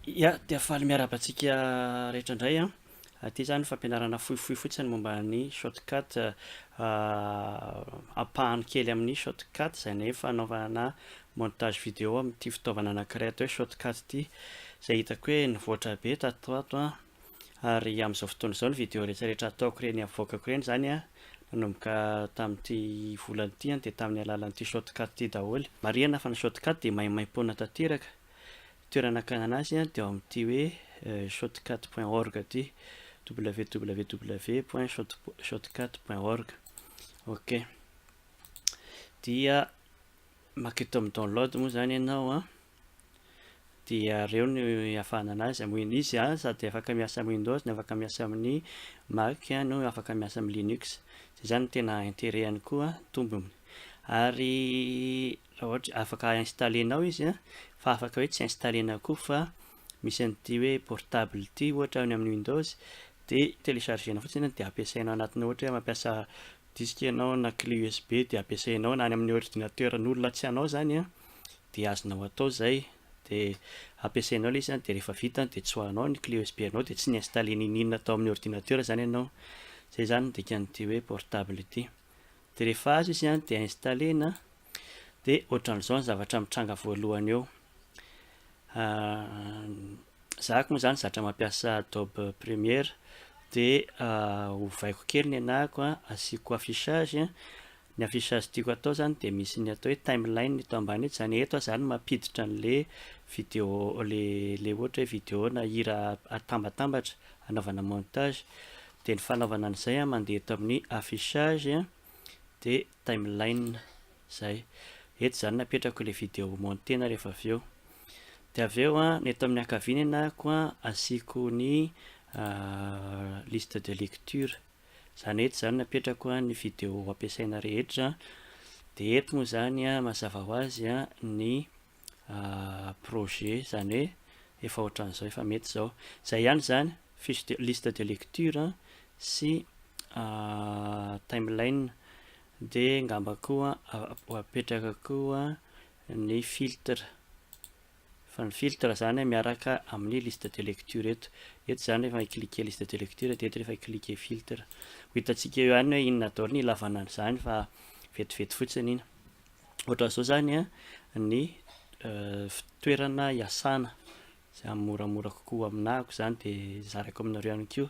Ya, dia faly miarahaba antsika rehetra indray an. Ah. Aty izany fampianarana fohifohy fotsiny momba ny shortcut ah, ah, ampahany kely amin'ny shortcut izay ny fanaovana montage vidéo amin'ity fitaovana anankiray atao hoe shortcut ity izay hitako hoe nivoatra be tato ato an. Ary amin'izao fotoana izao ny video rehetra rehetra ataoko ireny avoakako ireny izany an, nanomboka tamin'ity volana ity an, dia tamin'ny alalan'ity shotcut ity daholo. Marihana fa ny shotcut dia maimaimpoana tanteraka. Toerana akànana azy an, dia ao amin'ity hoe shotcut point org ity, www point shotcut point org. Ok. Dia maka eto amin'ny download moa izany ianao an. dia ireo no ihavanana anazy amin iny izy an sady afaka miasa amin windows no afaka miasa amin ny mac no afaka miasa amin ny linux zay zany no tena interet any koa tombony ary raha ohatra afaka installer nao izy an fa afaka hoe tsy installer nao koa fa misy an ity hoe portable ity ohatra any amin ny windows de telecharger nao fotsiny de ampiasainao anatin ny ohatra hoe mampiasa disque enao na cle usb de ampiasainao na any amin ny ordinateur ny olona tsy anao zany an dia azonao atao izay dia ampiasainao ilay izy an, dia rehefa vita an, dia tsoahanao ny clé usb anao dia tsy ny installer n'in n'in atao amin'ny ordinateur izany ianao, izay izany no dikan'ity hoe portable ity, dia rehefa azo izy an dia installer-na dia ohatran'izao ny zavatra mitranga voalohany eo, za aky moa izany zatra mampiasa adobe premiere dia ovaiko kely ny anahako an, asiako affichage an, ny affichage tiako atao izany dia misy ny atao hoe timeline eto ambany eto, izany hoe eto aho izany mampiditra an'ilay vidéo, ilay ohatra hoe vidéo na hira atambatambatra hanaovana montage, dia ny fanaovana an'izay an, mandeha eto amin'ny affichage an, dia timeline, izay, eto izany no apetrako ilay vidéo monter-na rehefa avy eo, dia avy eo an, ny eto amin'ny ankavianina ko an, asiako ny liste de lecture. Za net zany napetrako ny video ampiasaina rehetra de eto moa zany mazava ho azy ny projet zany hoe efa ohatran'izao efa mety izao zay ihany zany fiche de liste de lecture sy timeline de ngamba koa ho apetraka koa ny filtre Fa ny filtre zany miaraka amin'ny liste de lecture eto. Eto zany rehefa i-cliquer liste de lecture dia eto rehefa i-cliquer filtre. Ho hitantsika eo ihany hoe inona daholo ny ilavana an'izany fa vetivety fotsiny iny. Ohatran'izao zany ny toerana iasana. Izay hamoramora kokoa ho aminako izany dia zarako aminareo ihany koa.